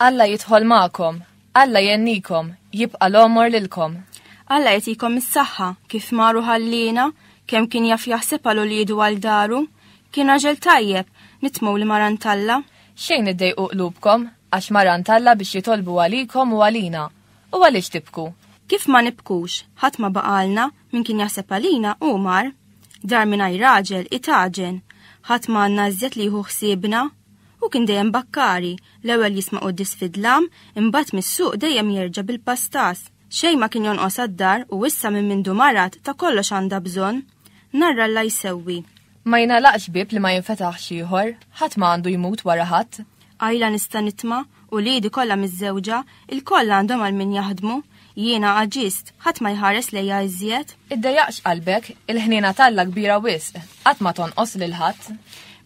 Alla jidħol ma'kom, Alla jennikom, jibqa l-omor lilkom. Alla jtikom is-saħħa kif maru ħallina, kemm kien jaf jaħseb għal ulidu għal daru, kien raġel tajjeb, nitmu li maran talla. Xejn iddejqu qlubkom, għax maran talla biex jitolbu għalikom u għalina. U għaliex tibku? Kif ma nibkux, ħadd ma baqalna, min kien jaħseb għalina u mar. Dar mingħajr raġel itaġen, ħadd ma għandna iżjed li jieħu ħsiebna. U kien dejjem bakkari, l-ewwel jisma' quddis fidlam, imbagħad mis-suq dejjem jerġa' bil-pastas. Xejn ma kien jonqos għad-dar u issa minn mindu marad ta' kollox għandha bżonn. Nhar Alla jsewwi. Ma jingħalaqx bieb li ma jinfetaħx ieħor, ħadd ma għandu jmut wara ħadd. Għajla nista' nitma', uliedi kollha miżżewġa, ilkoll għandhom għal min jaħdmu, jiena għaġiżt, ħadd ma jħares lejja iżjed. Iddejjaqx qalbek, il-ħniena t'Alla kbira wisq, qatt ma tonqos lil ħadd.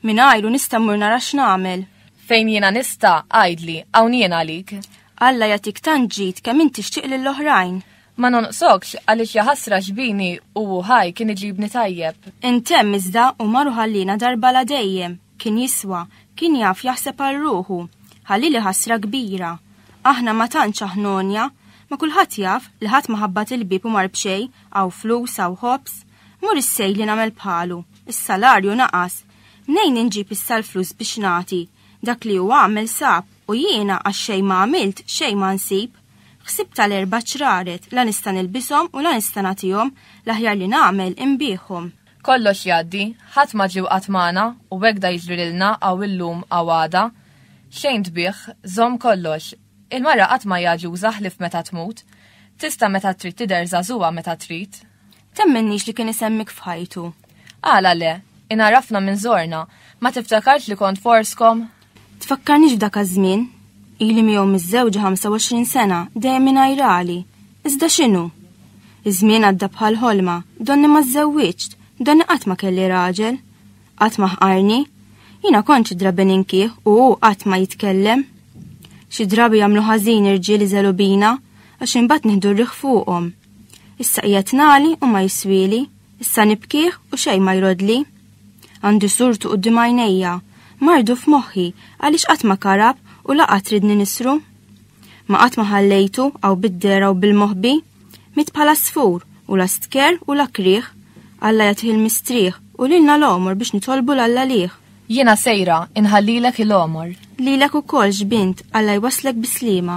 Mingħajru nista' mmur nara x'nagħmel. Fejn jiena nista', għidli, hawn jien għalik. Alla jagħtik tant ġid kemm int tixtieq lill-oħrajn. Ma nonqsokx għaliex ja ħasra xbini u hu ħaj kien iġibni tajjeb. Intemm iżda u mar u ħalliena darba la dejjem, kien jiswa, kien jaf jaħseb għal ruħu. Ħallieli ħasra kbira. Aħna ma tantx aħnonja, ma kulħadd jaf li ħadd ma ħabbat il-bieb u mar b'xejn, hawn flus, hawn ħobż. Mur issej li nagħmel bħalu. Is-salarju naqas. Mnejn inġib issa l-flus biex nagħti? Dak li hu għamel sab u jiena għax xejn ma għamilt xejn ma nsib. Ħsibtha l-erba' ċraret, la nista' nilbishom u la nista' nagħtihom, l-aħjar li nagħmel, inbigħhom. Kollox jgħaddi, ħadd ma ġiew qatt magħna u hekk da jiġri lilna hawn illum hawn għada. Xejn tbigħ, żomm kollox. Il-mara qatt ma hija aġuża ħlief meta tmut. Tista' meta trid tidher żagħżugħa meta trid. Temmenniex li kien isemmik f'ħajtu. Għala le, inarafna minn zorna, ma tiftakarx li kont forskom? Tfakkarniex f'dak żmien Ili miegħu miżżewġa 25 sena dejjem inajrali. Iżda x'inhu? Iż-żmien għadda bħal ħolma, donni ma żżewwiġt, donni qatt ma kelli raġel. Qatt ma ħqarni. Jiena kont xi drabi ninkih u hu qatt ma jitkellem. Xi drabi jagħmlu ħażin irġiel iżelu bina għax imbagħad nieħdu rriħ fuqhom. Issa qiegħed nali u ma jiswieli, issa nibkih u xejn ma jrodli. Għandi surtu qudiem għajnejja, mardu f'moħħi għaliex qatt ma karab u laqgħa tridni nisru. Ma qatt ma ħallejtu għaw bid-dera u bil-moħbi, mit bħala sfur u la stker u la krieħ, Alla jagħtih il-mistrieħ u lilna l-għomor biex nitolbu l-Alla lih. Jiena sejra inħallilek il-għomor. Lilek ukoll xbint Alla jwasslek bis-sliema.